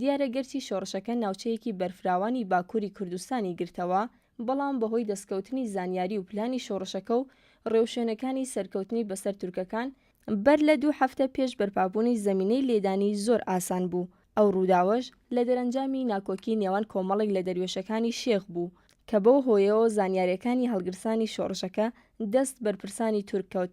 دیارە گەرچی شۆڕشەکە ناوچەیەکی بەرفراوانی باکووری کوردستانی گرتەوە، بەڵام بەهۆی دەستکەوتنی زانیاری و پلانی شۆڕشەکە و ڕێوشوێنەکانی سەرکەوتنی بەسەر تورکەکان، بەر لە دوو هەفتە پێش بەرپابوونی زەمینەی لێدانی زۆر ئاسان بوو، ئەو ڕووداوەش لە دەرەنجامی ناکۆکی نێوان کۆمەڵێک لە دەروێشەکانی شێخ بوو، کە بەو هۆیەوە زانیارییەکانی هەڵگرسانی شۆڕشەکە دەست بەرپرسانی تورک کەوت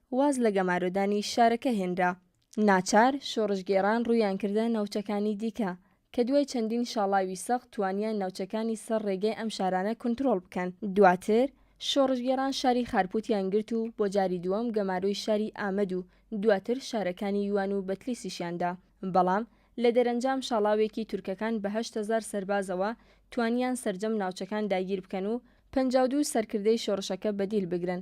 واز لە گەمارۆدانی شارەکە هێنرا. ناچار شۆڕشگێڕان ڕوویان کردە ناوچەکانی دیکە، کە دوای چەندین شاڵاوی سەخت توانیان ناوچەکانی سەر ڕێگەی ئەم شارانە کونترۆڵ بکەن. دواتر شۆڕشگێڕان شاری خارپوتیان گرت و بۆ جاری دووەم گەمارۆی شاری ئامەد و دواتر شارەکانی یوان و بەتلیسیشیان دا، بەڵام لە دەرەنجام شاڵاوێکی تورکەکان بە هەشت هەزار سەربازەوە توانیان سەرجەم ناوچەکان داگیر بکەن و پەنجا و دوو سەرکردەی شۆڕشەکە بەدیل بگرن.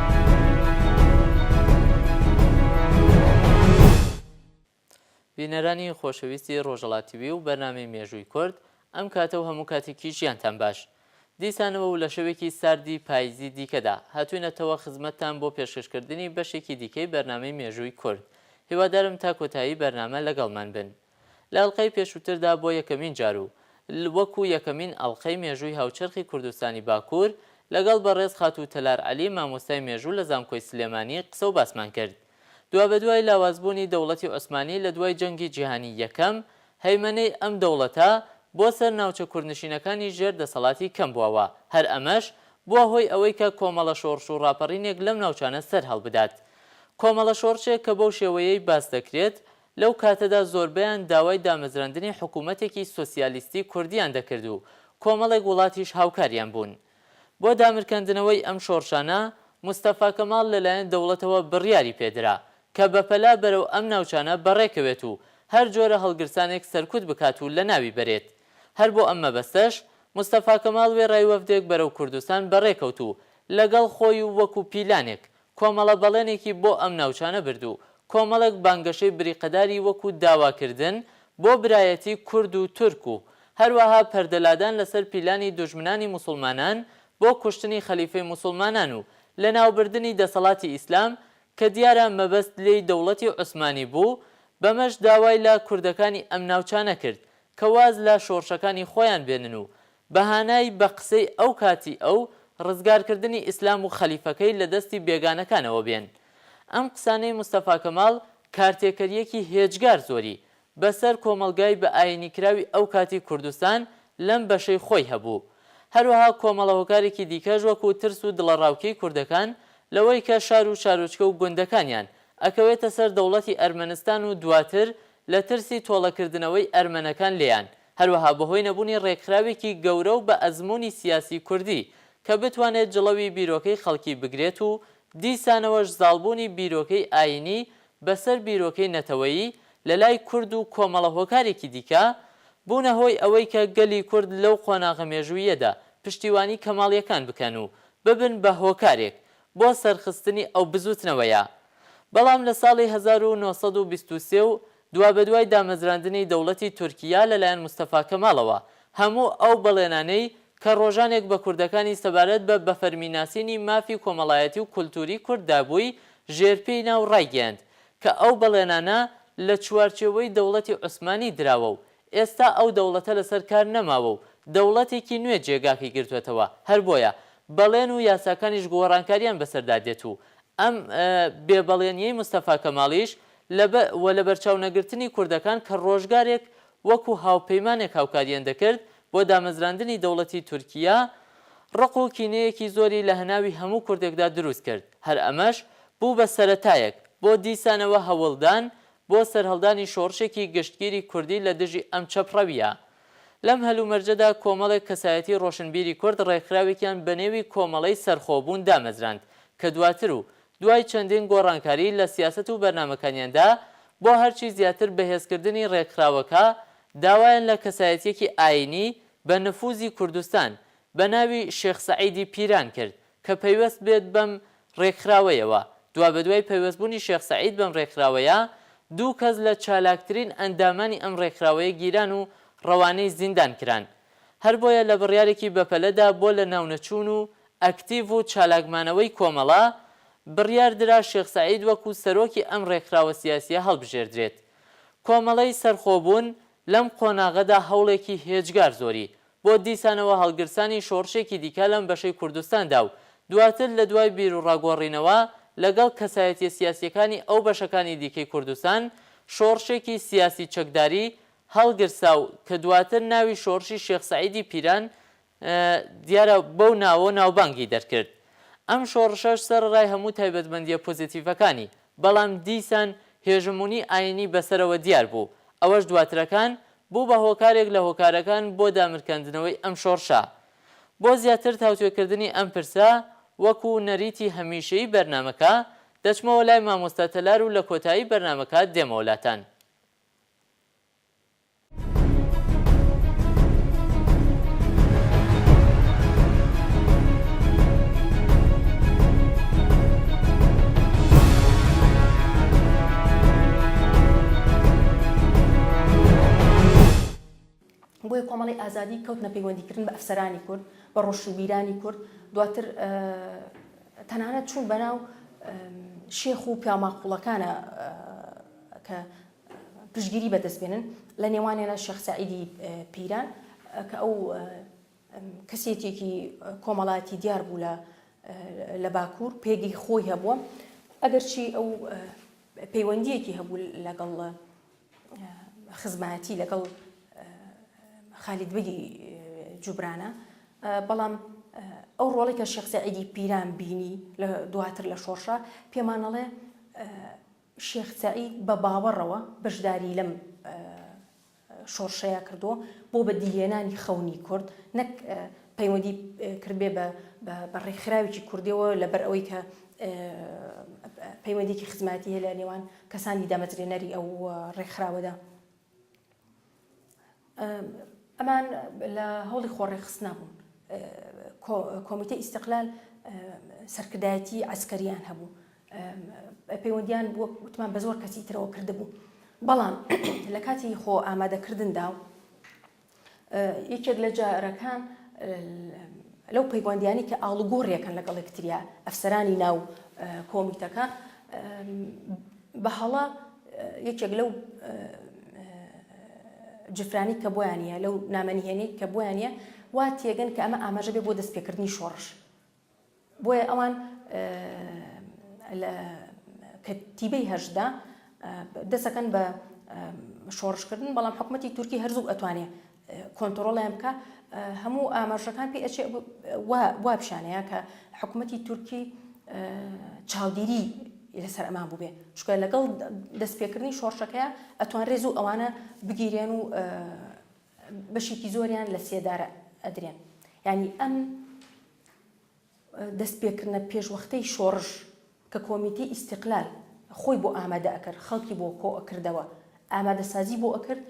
بینەرانی خۆشەویستی ڕۆژەڵا تیوی و بەرنامەی مێژووی کورد، ئەم کاتە و هەموو کاتێکی ژیانتان باش. دیسانەوە و لە شەوێکی ساردی پاییزی دیکەدا، هاتووینەتەوە خزمەتتان بۆ پێشکەشکردنی بەشێکی دیکەی بەرنامەی مێژووی کورد. هیوادارم تا کۆتایی بەرنامە لەگەڵمان بن. لە ئەڵقەی پێشووتردا بۆ یەکەمین جار و وەکو یەکەمین ئەڵقەی مێژووی هاوچەرخی کوردستانی باکوور لەگەڵ بەڕێز خاتوو تەلار عەلی مامۆستای مێژوو لە زانکۆی سلێمانی قسە و باسمان کرد دوابەدوای لاوازبوونی دەوڵەتی عوسمانی لە دوای جەنگی جیهانی یەکەم هەیمەنەی ئەم دەوڵەتە بۆ سەر ناوچە کوردنشینەکانی ژێر دەسەڵاتی کەم بووە و هەر ئەمەش بووە هۆی ئەوەی کە کۆمەڵە شۆڕش و ڕاپەڕینێک لەم ناوچانە سەر هەڵبدات کۆمەڵە شۆڕشێک کە بەو شێوەیەی باس دەکرێت لەو کاتەدا زۆربەیان داوای دامەزراندنی حکوومەتێکی سۆسیالیستی کوردییان دەکرد و کۆمەڵێک وڵاتیش هاوکاریان بوون. بۆ دامرکاندنەوەی ئەم شۆڕشانە، مستەفا کەماڵ لەلایەن دەوڵەتەوە بڕیاری پێ درا کە بەپەلە بەرەو ئەم ناوچانە بەڕێ کەوێت و هەر جۆرە هەڵگرسانێک سەرکوت بکات و لەناوی بەرێت. هەر بۆ ئەم مەبەستەش مستەفا کەماڵ وێڕای وەفدێک بەرەو کوردستان بەڕێ کەوت و لەگەڵ خۆی و وەکوو پیلانێک کۆمەڵە بەڵێنێکی بۆ ئەم ناوچانە برد و کۆمەڵێک بانگەشەی بریقەداری وەکو داواکردن بۆ برایەتی کورد و تورک و هەروەها پەردەلادان لەسەر پیلانی دوژمنانی موسوڵمانان بۆ کوشتنی خەلیفەی موسوڵمانان و لەناوبردنی دەسەڵاتی ئیسلام کە دیارە مەبەست لێی دەوڵەتی عوسمانی بوو بەمەش داوای لە کوردەکانی ئەم ناوچانە کرد کە واز لە شۆڕشەکانی خۆیان بێنن و بە هانای بە قسەی ئەو کاتی ئەو، ڕزگار کردنی ئیسلام و خەلیفەکەی لە دەستی بێگانەکانەوە بێن. ئەم قسانەی مستەفا کەماڵ کارتێکەریەکی هێجگار زۆری بە سەر کۆمەڵگای بە ئاینی کراوی ئەو کاتی کوردستان لەم بەشەی خۆی هەبوو. هەروەها کۆمەڵە هۆکارێکی دیکەش وەکوو ترس و دڵەڕاوکێی کوردەکان لەوەی کە شار و شارۆچکە و گوندەکانیان ئەکەوێتە سەر دەوڵەتی ئەرمەنستان و دواتر لە ترسی تۆڵە کردنەوەی ئەرمەنەکان لێیان هەروەها بەهۆی نەبوونی ڕێکخراوێکی گەورە و بە ئەزموونی سیاسی کوردی کە بتوانێت جڵەوی بیرۆکەی خەڵکی بگرێت و دیسانەوەش زاڵبوونی بیرۆکەی ئایینی بەسەر بیرۆکەی نەتەوەیی لە لای کورد و کۆمەڵە هۆکارێکی دیکە بوونە هۆی ئەوەی کە گەلی کورد لەو قۆناغە مێژووییەدا پشتیوانی کەماڵیەکان بکەن و ببن بە هۆکارێک بۆ سەرخستنی ئەو بزووتنەوەیە بەڵام لە ساڵی هەزار و نۆ سەد و بیست و سێ و دوابەدوای دامەزراندنی دەوڵەتی تورکیا لەلایەن مستەفا کەماڵەوە، هەموو ئەو بەڵێنانەی کە ڕۆژانێک بە کوردەکانی سەبارەت بە بەفەرمی ناسینی مافی کۆمەڵایەتی و کولتووری کورد دابووی، ژێرپێی نا و ڕایگەیاند کە ئەو بەڵێنانە لە چوارچێوەی دەوڵەتی عوسمانی دراوە و ئێستا ئەو دەوڵەتە لەسەر کار نەماوە و دەوڵەتێکی نوێ جێگاکەی گرتووەتەوە، هەر بۆیە بەڵێن و یاساکانیش گۆڕانکارییان بەسەردا دێت و ئەم بێ بەڵێنییەی مستەفا کەماڵیش لە و لەبەرچاو نەگرتنی کوردەکان کە ڕۆژگارێک وەکوو هاوپەیمانێک هاوکارییان دەکرد بۆ دامەزراندنی دەوڵەتی تورکییە، ڕق و کینەیەکی زۆری لە هەناوی هەموو کوردێکدا دروست کرد، هەر ئەمەش بوو بە سەرەتایەک بۆ دیسانەوە هەوڵدان بۆ سەرهەڵدانی شۆڕشێکی گشتگیری کوردی لە دژی ئەم چەپڕەوییە. لەم هەلومەرجەدا کۆمەڵێک کەسایەتی ڕۆشنبیری کورد ڕێکخراوێکیان بە نێوی کۆمەڵەی سەرخۆبوون دامەزراند کە دواتر و دوای چەندین گۆڕانکاری لە سیاسەت و بەرنامەکانیاندا بۆ هەرچی زیاتر بەهێزکردنی ڕێکخراوەکە داوایان لە کەسایەتییەکی ئایینی بە نفوزی کوردستان بە ناوی شێخ سەعیدی پیران کرد کە پەیوەست بێت بەم رێکخراوەیەوە. دوابەدوای پەیوەستبوونی شێخ سەعید بەم رێکخراوەیە، دوو کەس لە چالاکترین ئەندامانی ئەم رێکخراوەیە گیران و رەوانەی زیندان کران. هەر بۆیە لە بڕیارێکی بەپەلەدا بۆ لەناونەچوون و ئەکتیڤ و چالاکمانەوەی کۆمەڵە، بڕیار درا شێخ سەعید وەکو سەرۆکی ئەم رێکخراوە سیاسییە هەڵبژێردرێت. کۆمەڵەی سەرخۆبوون لەم قۆناغەدا هەوڵێکی هێجگار زۆری بۆ دیسانەوە هەڵگرسانی شۆڕشێکی دیکە لەم بەشەی کوردستاندا و دواتر لە دوای بیروڕا گۆڕینەوە لەگەڵ کەسایەتیە سیاسیەکانی ئەو بەشەکانی دیکەی کوردستان شۆڕشێکی سیاسی چەکداری هەڵگرسا و کە دواتر ناوی شۆڕشی شێخ سەعیدی پیران دیارە بەو ناوە ناوبانگی دەرکرد ئەم شۆڕشەش سەرەڕای هەموو تایبەتمەندیە پۆزیتیڤەکانی بەڵام دیسان هێژمونی ئاینی بەسەرەوە دیار بوو ئەوەش دواترەکان بوو بە هۆکارێک لە هۆکارەکان بۆ دامرکاندنەوەی ئەم شۆڕشە. بۆ زیاتر تاوتوێکردنی ئەم پرسە، وەکو نەریتی هەمیشەیی بەرنامەکە، دەچمەوە لای مامۆستا تەلار و لە کۆتایی بەرنامەکە دێمەوە لاتان. بۆیە کۆمەڵی ئازادی کەوتنە پەیوەندیکردن بە ئەفسەرانی کورد بە ڕۆشنبیرانی کورد دواتر تەنانەت چوون بەناو شێخ و پیاماقوڵەکانە کە پشگیری بەدەستبێنن لە نێوانێنە شخصعیدی پیران کە ئەو کەسێتیەکی کۆمەڵایەتی دیار بوو لە لە باکوور پێگەی خۆی هەبووە ئەگەرچی ئەو پەیوەندیەکی هەبوو لەگەڵ خزمایەتی لەگەڵ خالید بگی جوبرانە بەڵام ئەو ڕۆڵی کە شخصعیدی پیران بینی لە دواتر لە شۆڕشە پێمانەڵێ شێخ سعید بە باوەڕەوە بەشداری لەم شۆڕشەیا کردووە بۆ بەدیهێنانی خەونی کورد نەک پەیوەندی کردبێ بە ڕێکخراوێکی کوردیەوە لەبەر ئەوەی کە پەیوەندێکی خزمەتی هەیە لە نێوان کەسانی دامەزرێنەری ئەو ڕێکخراوەدا ئەمان لە هەوڵی خۆڕێخستنا بوون کۆمیتە ئیسقلال سەرکردایەتی ئەسکەریان هەبوو پەیوەندیان بووە وتمان بە زۆر کەسی ترەوە کردبوو بەڵام لە کاتی خۆ ئامادەکردندا و یەکێک لە جارەکان لەو پەیوەندیانی کە ئاڵوگۆڕیەکەن لەگەڵ یەکتریا ئەفسەرانی ناو کۆمیتەکە بە هەڵە یەکێک لەو جفرانی کە بۆیانە لەو نامەنیهێنەی کە بۆیانە وا تێگەن کە ئەمە ئاماژە بێ بۆ دەستپێکردنی شۆڕش بۆیە ئەوان لە کەتیبەی هەشت دا دەسەکەن بە شۆڕشکردن بەڵام حکوومەتتی تورکی هەرزوو ئەتوانێ کۆنتترۆڵیان بکە هەموو ئاماژەکان پێ ئەچێ وا پیشانەیە کە حکوومەتتی تورکی چاودێری لەسەر ئەمان بووبێ چکە لەگەڵ دەستپێکردنی شۆڕشەکەیە ئەتوان ڕێز و ئەوانە بگیرێن و بەشێکی زۆریان لە سێدارە ئەدرێن یانی ئەم دەست پێکردنە پێشوەختەی شۆڕش کە کۆمیتی ئیسیقلال خۆی بۆ ئامادە ئەکرد خەڵکی بۆ کۆ ئەکردەوە ئامادەسازی بۆ ئەکرد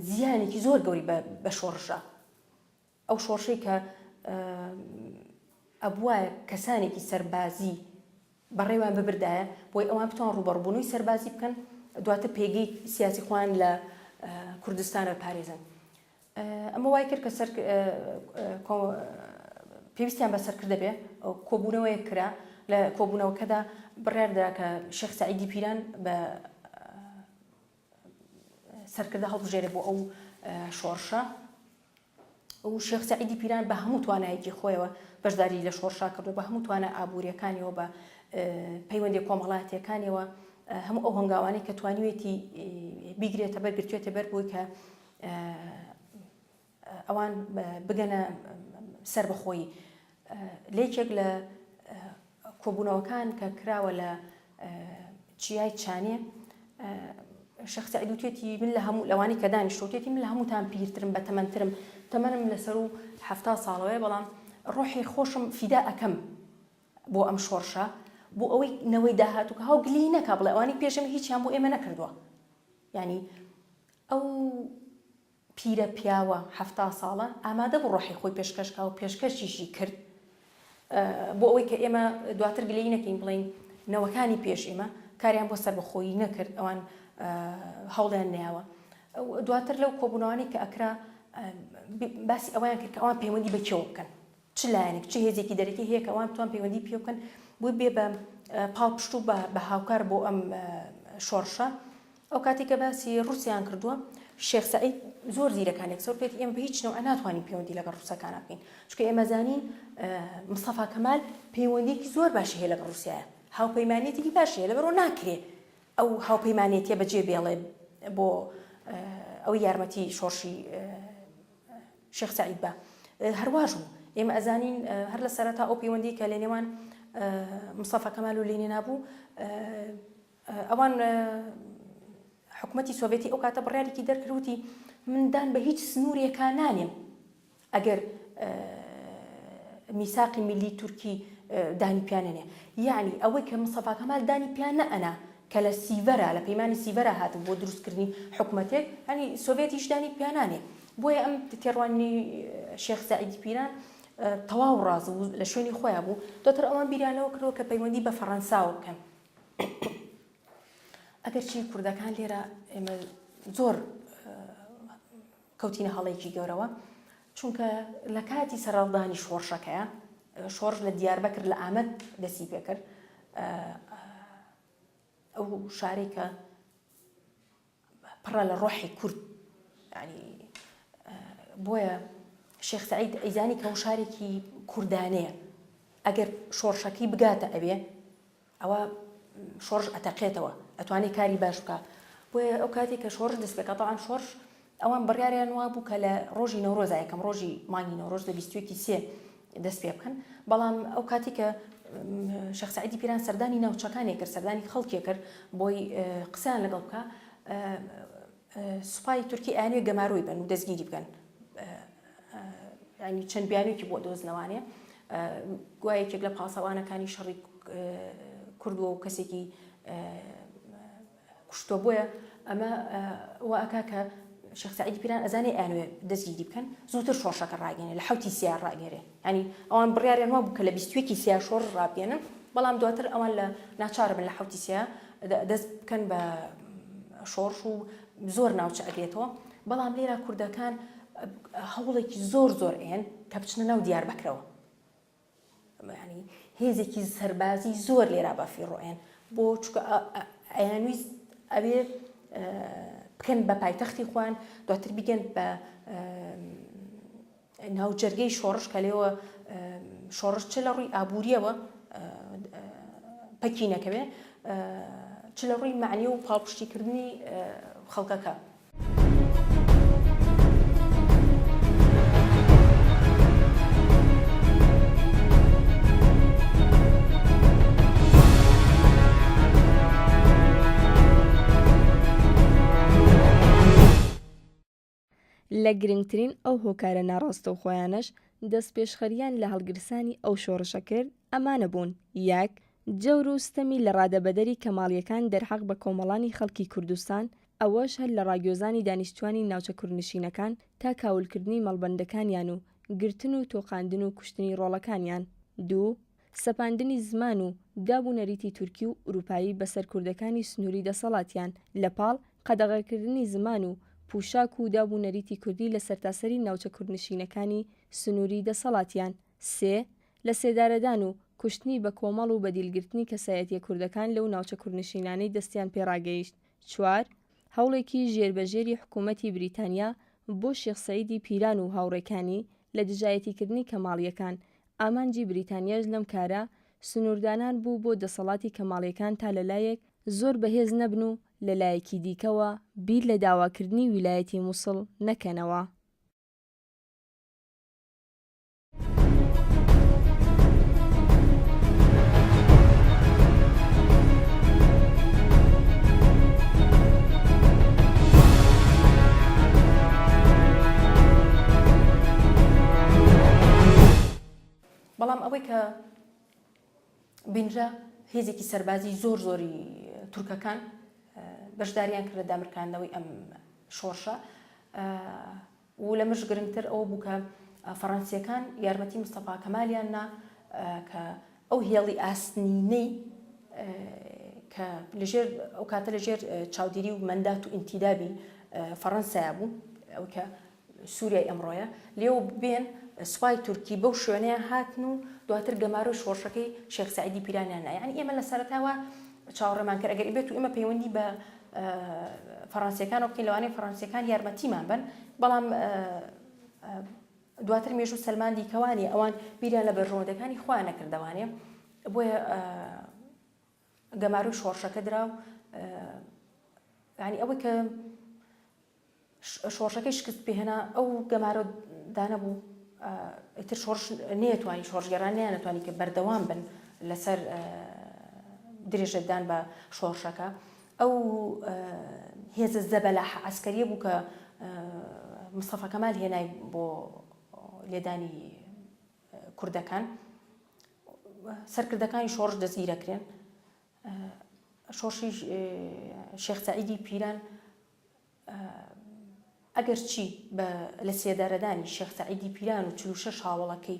زیانێکی زۆر گەوری بە شۆڕشە ئەو شۆڕشەی کە ئەبوایە کەسانێکی سەربازی بەڕێوەیان ببردایە بۆی ئەوان بتوان ڕوبەڕبوونەوەی سەربازی بکەن دواتر پێگەی سیاسی خۆیان لە کوردستان بپارێزن ئەمە وای کرد کە سەر پێویستیان بە سەرکردە بێ کۆبوونەوەیە کرا لە کۆبوونەوەکەدا بڕیاردرا کە شخص عیدی پیران بە سەرکردە هەڵبژێرێ بۆ ئەو شۆڕشە و شێخ سعیدی پیران بە هەموو توانایەکی خۆیەوە بەشداری لە شۆڕشا کردو بە هەموو توانە ئابوووریەکانیەوە بە پەیوەندی کۆمەڵاتیەکانیەوە هەموو ئەو هەنگاوانی کە توانیوێتی بیگرێتە بەر گرتوێتە بەر بووی کە ئەوان بگەنە سەربەخۆیی. لە یەکێک لە کۆبوونەوەکان کە کراوە لە چیای چانێ، شێخ سەعید وتێتی من لە هەموو لەوانی کە دانیشتوە وتێتی من لە هەمووتان پیرترم بە تەمەنترم تەمەنم لەسەر و حەفتا ساڵەوەیە بەڵام ڕۆحی خۆشم فیدا ئەکەم بۆ ئەم شۆڕشە بۆ ئەوەی نەوەی داهاتوو کە هاو گلی نەکا بڵێ ئەوانی پێشم هیچیان بۆ ئێمە نەکردووە ینی ئەو پیرە پیاوە حەفتا ساڵە ئامادەبوو ڕۆحی خۆی پێشکەشکا و پێشکەشیشی کرد بۆ ئەوەی کە ئێمە دواتر گلەیی نەکەین بڵێین نەوەکانی پێش ئێمە کاریان بۆ سەربەخۆیی نەکرد ئەوان هەوڵیان نەیاوە دواتر لەو کۆبوونەوانەی کە ئەکرا باسی ئەوەیان کرد کە ئەوان پەیوەندی بە کێوە بکەن چ لایەنێک چ هێزێکی دەرەکی هەیە کە ئەوان بتوان پەیوەندی پێ بکەن بۆی بێ بە پاڵپشت و بە هاوکار بۆ ئەم شۆڕشە ئەو کاتی کە باسی ڕوسیان کردووە شێخ سعید زۆر زیرەکان یەکسەر پێت ئێمە بە هیچ نەوە ناتوانین پەیوەندی لەگەڵ ڕوسەکانە بکەین چکە ئێمەزانین مستەفا کەمال پەیوەندیکی زۆر باشی هەیە لەگەڵ ڕوسایە هاوپەیمانێتیکی باشی هەیە لەبەرەوە ناکرێ ئەو هاوپەیمانێتیە بەجێ بێڵێ بۆ ئەو یارمەتی شۆڕشی شێخ سەعید با هەرواش بوو ئێمە ئەزانین هەر لە سەرەتا ئەو پەیوەندی کە لە نێوان مستەفا کەمال و لینینا بوو ئەوان حکوومەتتی سۆڤێتی ئەو کاتە بڕارێکی دەرکردوتی مندان بە هیچ سنوورێکا نانێم ئەگەر میساقی ملی تورکی دانی پیانێ یعنی ئەوەی کە مسەفاکەمال دانی پیانە ئەنا کە لە سیڤەرا لە پەیمانی سیڤەرا هاتبوو بۆ دروستکردنی حکومەتێک یانی سۆڤێتیش دانی پیا نانێ بۆیە ئەم تێڕوانینەی شێخ سەعیدی پیران تەواو ڕاز بوو لە شوێنی خۆیان بوو دواتر ئەوان بیریان لەوە کردەوە کە پەیوەندی بە فەڕەنساوە بکەن ئەگەرچی کوردەکان لێرە ئێمە زۆر کەوتینە هەڵەیەکی گەورەوە چونکە لە کاتی سەرهەڵدانی شۆڕشەکەیا شۆڕش لە دیاربەکر لە ئامەد دەستی پێکرد ئەو شارەی کە پڕە لە ڕۆحی کورد ینی بۆیە شێخ سعید ئەیزانی کە شارێکی کوردانەیە ئەگەر شۆڕشەکەی بگاتە ئەوێ ئەوا شۆڕش ئەتەقێتەوە ئەتوانێ کاری باش بکا بۆیە ئەو کاتی کە شۆڕش دەست پێکا تاوان شۆڕش ئەوان بڕیاریان وا بوو کە لە ڕۆژی نەورۆزا یەکەم ڕۆژی مانگی نەورۆز لە بیستویەکی سێ دەست پێ بکەن بەڵام ئەو کاتی کە شەخ سعیدی پیران سەردانی ناوچەکانێ کرد سەردانی خەڵکێ کرد بۆی قسەیان لەگەڵ بکە سوپای تورکی ئەیانوێ گەمارۆی بەن و دەستگیری بکەن ینی چەند بیانویکی بۆ دۆزنەوانێ گویا یەکێک لە پاسەوانەکانی شەڕی کردووە و کەسێکی کوشتۆ بۆیە ئەمە واکا کە شخصعیدی پیران ئەزانێ ئەنوێ دەستگیری بکەن زووتر شۆشەکە ڕاگەێنێ لە حوتی سیار ڕاگەێ یانی ئەوان بڕیاریان وابوو کە لە بیست و یەکی سێیا شۆڕش ڕابگەیەنن، بەڵام دواتر ئەوان لە ناچاربن لە حەوتی سێیا دەست بکەن بە شۆڕش و زۆر ناوچە ئەگرێتەوە، بەڵام لێرا کوردەکان هەوڵێکی زۆر زۆر ئەیەن کە بچنە ناو دیاربەکرەوە یانی هێزێکی سەربازی زۆر لێرا بەفیڕۆ ئەیەن بۆ چکە ئەیانویست ئەوێ بکەن بە پایتەختی خوان دواتر بگەن بە ناوجەرگەی شۆڕش کە لێوە شۆڕش چ لە ڕووی ئابووریەوە پەکی نەکەوێ چ لە ڕووی معنی و پاڵپشتیکردنی خەڵکەکە. لە گرنگترین ئەو هۆکارە ناڕاستەوخۆیانەش دەستپێشخەرییان لە هەڵگرسانی ئەو شۆڕشە کرد ئەمانە بوون، یەک. جەور و ستەمی لەڕادەبەدەری کەماڵییەکان دەرحەق بە کۆمەڵانی خەڵکی کوردستان، ئەوەش هەر لە ڕاگوێزانی دانیشتووانی ناوچە کوردنشینەکان تا کاولکردنی مەڵبەندەکانیان و گرتن و تۆقاندن و کوشتنی ڕۆڵەکانیان. دوو. سەپاندنی زمان و داب و نەریتی تورکی و ئورووپایی بەسەر کوردەکانی سنووری دەسەڵاتیان، لە پاڵ قەدەغەکردنی زمان و پووشاک و داب و نەریتی کوردی لە سەرتاسەری ناوچە کوردنشینەکانی سنووری دەسەڵاتیان. سێ. لە سێدارەدان و کوشتنی بە کۆمەڵ و بە دیلگرتنی کەسایەتیە کوردەکان لەو ناوچە کوردنشینانەی دەستیان پێ ڕاگەیشت. چوار. هەوڵێکی ژێر بە ژێری حکوومەتی بریتانیا بۆ شێخ سەعیدی پیران و هاوڕێکانی لە دژایەتیکردنی کەماڵییەکان، ئامانجی بریتانیاش لەم کارە سنووردانان بوو بۆ دەسەڵاتی کەماڵیەکان تا لەلایەک زۆر بەهێز نەبن و لەلایەکی دیکەوە بیر لە داواکردنی ویلایەتی موسڵ نەکەنەوە. بەڵام ئەوەی کە بینرا هێزێکی سەربازی زۆر زۆری تورکەکان بەشداریان کردە دامرکاندنەوەی ئەم شۆڕشە و لە مش گرنگتر ئەوە بووکە فەڕەنسیەکان یارمەتی مستەفا کەمالیان نا کە ئەو هێڵی ئاسنینەی کە لەژێر ئەو کاتە لەژێر چاودێری و مەندات و ئینتیدابی فەڕەنسایا بوو ئەو کە سووریای ئەمڕۆیە لێو بێن سوپای تورکی بەو شوێنەیە هاتن و دواتر گەمارۆی شۆڕشەکەی شێخ سعیدی پیرانیان نایانی ئێمە لە سەرتاوە چاوەڕێمان کرد ئەگەر بێت و ئێمە پەیوەندی بە فەڕەنسیەکان و بکەین لەوانەیە فەڕەنسیەکان یارمەتیمان بن بەڵام دواتر مێژوو سەلماندی کە وانیە ئەوان بیریان لە بەرژەوەندەکانی خۆیان نەکردەوانێ بۆیە گەمارۆی شۆڕشەکە درا و ینی ئەوەی کە شۆڕشەکەی شکست پێهێنا ئەو گەمارۆ دانە بوو ئیتر شۆڕش نێتوانی شۆڕژگەران نیانەتوانی کە بەردەوام بن لەسەر درێژەدان بە شۆڕشەکە ئەو هێزە زەبەلاح عەسکەریە بوو کە مستەفا کەمال هێنای بۆ لێدانی کوردەکان سەرکردەکانی شۆڕش دەستگیرەکرێن شۆڕشی شێخ سعیدی پیران ئەگەرچی بە لەسێدارەدانی شێخ سەعیدی پیران و چل و شەش هاوەڵەکەی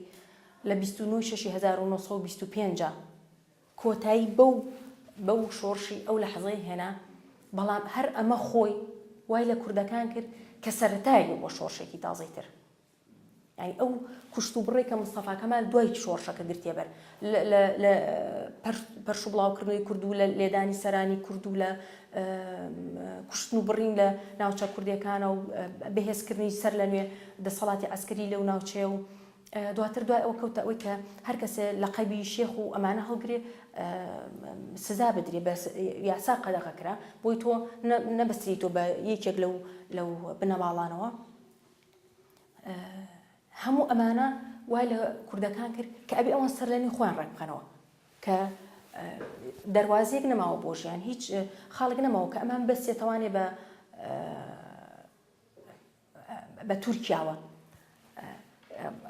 لە بیست و نۆ ی شەشی هەزار و نۆ سەد و بیست و پێنج کۆتایی بەو بەو شۆڕشی ئەو لەحزەی هێنا، بەڵام هەر ئەمە خۆی وای لە کوردەکان کرد کە سەرەتایەک بوو بۆ شۆڕشێکی تازەی تر. یانی ئەو کوشت و بڕەی کە مستەفا کەمال دوای شۆڕشەکە گرتیە بەر لە لە پەرش و بڵاوکردنەوەی کورد و لە لێدانی سەرانی کورد و لە کوشتن و بڕین لە ناوچە کوردەکانە و بەهێزکردنی سەر لە نوێ دەسەڵاتی ئەسکەری لەو ناوچەیە و دواتر دوای ئەو کەوتە ئەوی کە هەر کەسێ لە قەبی شێخ و ئەمانە هەڵگرێ سزا بدرێ بە یاسا قەدەغە کرا بۆی تۆ نەبستری تۆ بە یەکێک لەو لەو بنەماڵانەوە هەموو ئەمانە وای لە کوردەکان کرد کە ئەبێ ئەوان سەرلەنوێ خۆیان ڕێک بخەنەوە کە دەواازیەک نەماوە بۆ ژیان هیچ خاڵک نەماوە کە ئەمان بەسێتوانێ بە بە تورکیاوە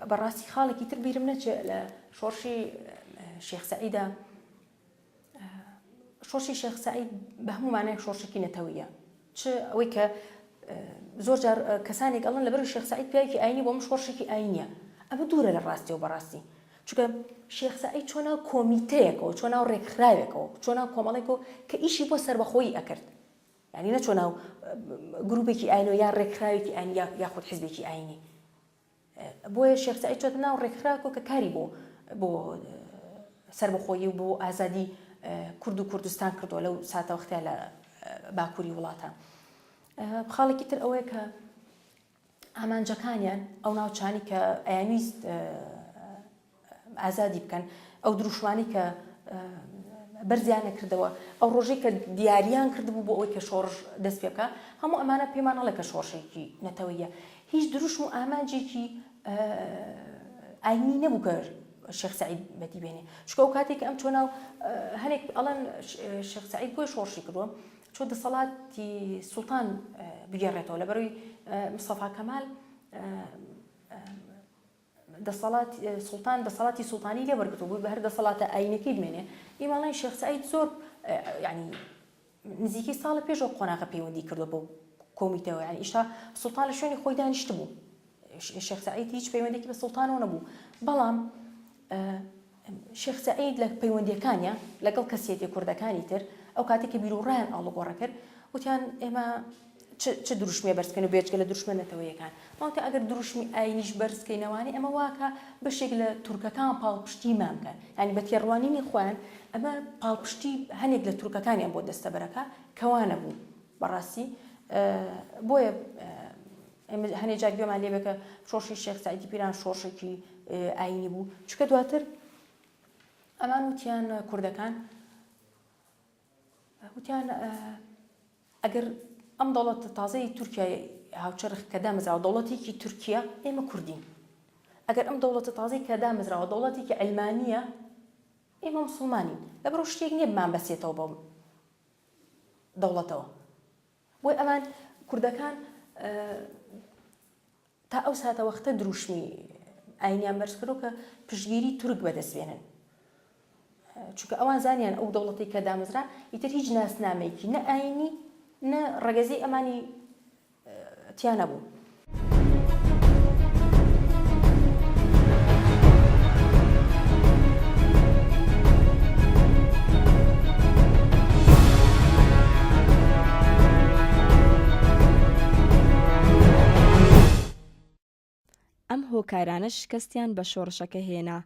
بەڕاستی خاڵێکی تر بیرم نەچێت لە شۆڕشی شێخ سەعیدا شۆڕشی شێخ سەعید بە هەموو مانایەک شۆڕشێکی نەتەوەیە چ ئەوەی کە زۆر جار کەسانێک ئەڵن لەبەر شێخ سەعید پیاوێکی ئاینی بۆ من شۆڕشێکی ئاینە ئەمە دوورە لە ڕاستی و بەڕاستی چونکە شێخ سەعید چۆن ناو کۆمیتەیەکەوە چۆن ناو ڕێکخراوێکەوە چۆن ناو کۆمەڵێکەوە کە ئیشی بۆ سربەخۆیی ئەکرد یعنی نەچۆ ناو گروپێکی ئاینۆ یا ڕێکخراوێکی ئاین یاخود حزبێکی ئاینی بۆیە شێخ سەعید چۆتە ناو ڕێکخراوکۆ کە کاری بۆ بۆ سەربەخۆیی و بۆ ئازادی کورد و کوردستان کردووە لەو ساتە وەختە لە باکووری وڵاتە خاڵێکی تر ئەوەیە کە ئامانجەکانیان ئەو ناوچانی کە ئەیانویست ئازادی بکەن ئەو دروشمانی کە بەرزیان نەکردەوە ئەو ڕۆژەی کە دیاریان کردبوو بۆ ئەوەی کە شۆڕش دەست پێ بکە هەموو ئەمانە پێمان هەڵێ کە شۆڕشێکی نەتەوەیە هیچ دروشم و ئامانجێکی ئاینی نەبوو کە شێخ سعید بەدی بێنێ چکە و کاتێک ئەم چۆناو هەنێک ئەڵەن شێخ سعید بۆی شۆڕشی کردووە چۆ دەسەڵاتی سوڵتان بگەڕێتەوە لە بەروی مسەفا کەمال دەسەڵات سوڵتان دەسەڵاتی سوڵتانی لێ وەرگرتوو بووی بە هەر دەسەڵاتە ئاینەکەی دوێنێ ئیمە ئەڵێن شێخ سەعید زۆر یعنی نزیکەی ساڵە پێش ئەو قۆناغە پەیوەندی کردو بەو کۆمیتەوە یعنی ئیشتا سوڵتان لە شوێنی خۆی دانیشتبوو شێخ سەعید هیچ پەیوەندێکی بە سوڵتانەوە نەبوو بەڵام شێخ سەعید لە پەیوەندییەکانیا لەگەڵ کەسیەتە کوردەکانی تر ئەو کاتەی کە بیروڕایان ئاڵوگۆڕە کرد وتیان ئێمە چ چ دروشمێ بەرز بکەین و بێجگە لە دروشمە نەتەوەیەکان ماوتە ئەگەر دروشمی ئاینیش بەرز بکەینەوانێ ئەمە واکە بەشێک لە تورکەکان پاڵپشتیمان بکەن یانی بە تێڕوانینی خۆیان ئەمە پاڵپشتی هەنێک لە تورکەکانیان بۆ دەستەبەرەکە کەوانە بوو بەڕاستی بۆیە ئێمە هەنێ جار گوێمان لێبێ کە شۆڕشی شێخ سەعیدی پیران شۆڕشێکی ئایینی بوو، چونکە دواتر ئەمان وتیان کوردەکان وتیان ئەگەر ئەم دەوڵەتە تازەی تورکیای هاوچەرخ کە دامەزراوە دەوڵەتێکی تورکیا ئێمە کوردین ئەگەر ئەم دەوڵەتە تازەی کە دامەزراوە دەوڵەتێکی ئەلمانیە ئێمە مسلمانین لەبەرۆ شتێک نییە بمان بەسێتەوە بەم دەوڵەتەوە بۆی ئەمان کوردەکان تا ئەو ساتە وەختە دروشمی ئاینیان بەرزکردو کە پشگیری تورک بەدەست بێنن چونکە ئەوان زانیان ئەو دەوڵەتی کە دامەزرا ئیتر هیچ ناسنامەیەکی نە ئاینی نە ڕەگەزی ئەمانی تیانە بوو ئەم هۆکارانە شکستیان بە شۆڕشەکە هێنا،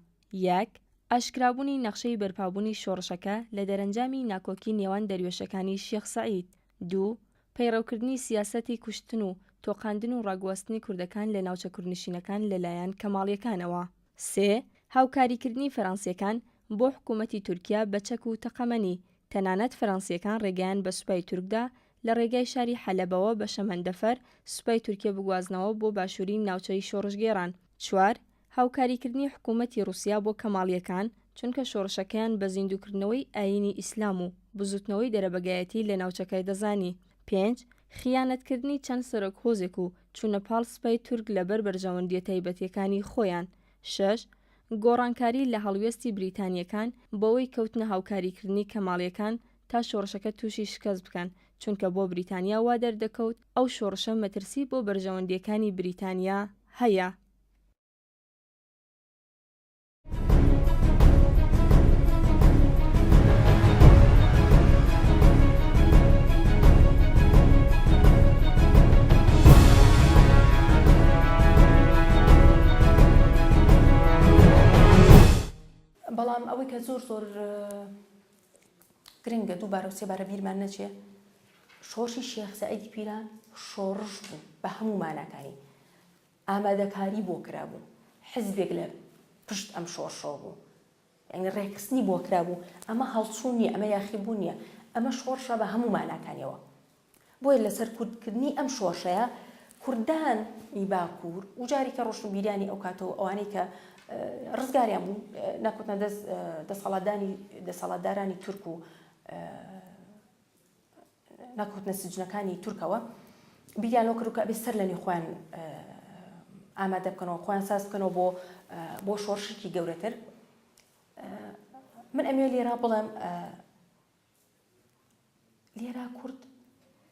یەک. ئاشکرابوونی نەخشەی بەرپابوونی شۆڕشەکە لە دەرەنجامی ناکۆکی نێوان دەروێشەکانی شێخ سەعید، دوو. پەیڕەوکردنی سیاسەتی کوشتن و تۆقاندن و ڕاگواستنی کوردەکان لە ناوچە کوردنشینەکان لەلایەن کەماڵییەکانەوە. سێ، هاوکاریکردنی فەرەنسییەکان بۆ حکوومەتی تورکیا بە چەک و تەقەمەنی، تەنانەت فەرەنسییەکان ڕێگەیان بە سوپای تورک دا لە ڕێگای شاری حەلەبەوە بە شەمەندەفەر سوپای تورکیە بگوازنەوە بۆ باشووری ناوچەی شۆڕشگێڕان. چوار، هاوکاریکردنی حکوومەتی ڕووسیا بۆ کەماڵییەکان، چونکە شۆڕشەکەیان بە زیندووکردنەوەی ئایینی ئیسلام و بزووتنەوەی دەرەبەگایەتی لە ناوچەکە دەزانی. پێنج، خیانەتکردنی چەند سەرۆک هۆزێک و چوونە پاڵ سپای تورک لە بەر بەرژەوەندییە تایبەتییەکانی خۆیان. شەش، گۆڕانکاری لە هەڵوێستی بریتانییەکان بەوەی کەوتنە هاوکاریکردنی کەماڵییەکان تا شۆڕشەکە تووشی شکەست بکەن، چونکە بۆ بریتانیا وا دەردەکەوت ئەو شۆڕشە مەترسی بۆ بەرژەوەندییەکانی بریتانیا هەیە. بەڵام ئەوەی کە زۆر زۆر گرنگە دووبارە و سێبارە بیرمان نەچێ شۆڕشی شێخ سەعیدی پیران شۆڕش بوو بە هەموو ماناکانی ئامادەکاری بۆ کرابوو حزبێک لە پشت ئەم شۆڕشەوە بوو یانی ڕێکخستنی بۆ کرابوو ئەمە هەڵچوون نیە ئەمە یاخیبوون نیە ئەمە شۆڕشە بە هەموو ماناکانیەوە بۆیە لە سەرکوتکردنی ئەم شۆڕشەیە کوردان ی باکوور و جارێکە ڕۆشنبیرانی ئەو کاتەوە ئەوانەی کە ڕزگاریان بوو نەکوتنە دەست دەسەڵاتدانی دەسەڵاتدارانی تورک و نەکەوتنە سجنەکانی تورکەوە بیریان لەوە کردو کە ئەبێ سەر لەنێو خۆیان ئامادە بکەنەوە خۆیان ساز بکەنەوە بۆ بۆ شۆڕشێکی گەورەتر من ئەمێ لێرا بڵێم لێرا کورد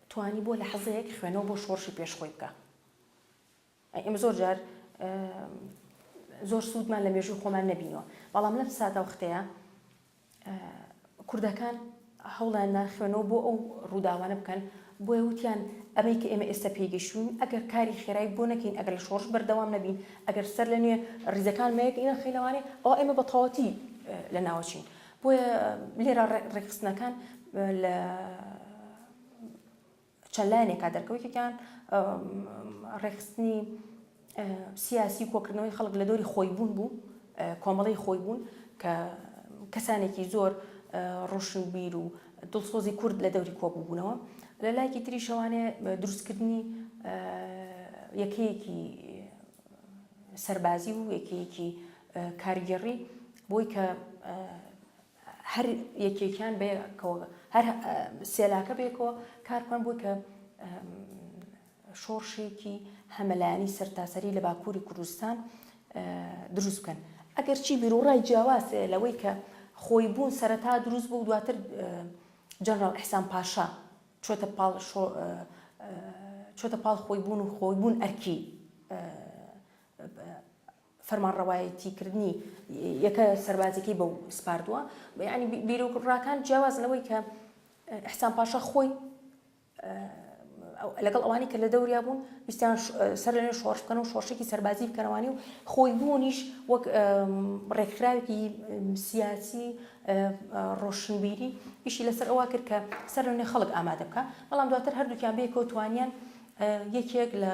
توانی بۆ لە حەزەیەک خوێنەوە بۆ شۆڕشی پێشخۆی بکە ئێمە زۆر جار زۆر سوودمان لە مێژووی خۆمان نەبینیوە، بەڵام لەم ساتە وەختەیە کوردەکان هەوڵیان دا خوێنەوە بۆ ئەو ڕووداوانە بکەن، بۆیە وتیان ئەمەی کە ئێمە ئێستا پێی گەیشتووین ئەگەر کاری خێرای بۆ نەکەین، ئەگەر لە شۆڕش بەردەوام نەبین، ئەگەر سەرلەنوێ ڕیزەکان نەخەینەوانێ، ئەوا ئێمە بە تەواوەتی لەناوەچین. بۆیە لێرە ڕێکخستنەکان لە چەند لایەنێکا دەرکەوت یەکێکیان ڕێکخستنی سیاسی و کۆکردنەوەی خەڵک لە دۆری خۆی بوون بوو کۆمەڵی خۆی بوون کە کەسانێکی زۆر ڕۆشن بیر و دڵسۆزی کورد لە دەوری کۆبووبوونەوە لە لایکی تری شەوانێ دروستکردنی یەکەیەکی سەربازی و یەکەیەکی کارگێڕی بۆی کە هەر یەکێکیان بەیەکەوە هەر سێلاکە بەیەکەوە کار بکەن بۆی کە شۆڕشێکی هەمەلایەنی سەرتاسەری لە باکووری کوردستان دروست بکەن ئەگەرچی بیرۆڕای جیاوازێ لەوەی کە خۆی بوون سەرەتا دروست بوو دواتر جەنرال ئەحسان پاشا چۆتە پاڵ چۆتە پاڵ خۆی بوون و خۆی بوون ئەرکی فەرمانڕەوایەتی کردنی یەکە سەربازیەکەی بەو سپاردوە یانی بیرۆک ڕاکان جیاواز لەوەی کە حسان پاشا خۆی لەگەڵ ئەوانی کە لە دەوریا بوون ویستیان سەر لەێ شۆش بکەن و شۆشێکی سەربازی بکەنەوانی و خۆی بوونیش وەک ڕێکخراوێکی سیاسی ڕۆشنبیری ئیشی لەسەر ئەوە کرد کە سەر لەێ خەڵک ئامادە بکە بەڵام دواتر هەردووکیان بێکەوتوانیان یەکێک لە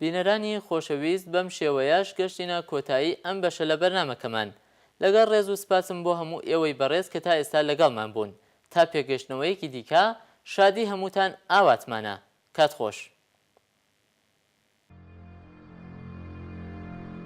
بینەرانی خۆشەویست بەم شێوەیەش گەشتینە کۆتایی ئەم بەشە لە بەرنامەکەمان. لەگەڵ ڕێز و سپاسم بۆ هەموو ئێوەی بەڕێز کە تا ئێستا لەگەڵمان بوون. تا پێکگەشتنەوەیەکی دیکە، شادی هەمووتان ئاواتمانە. کات خۆش.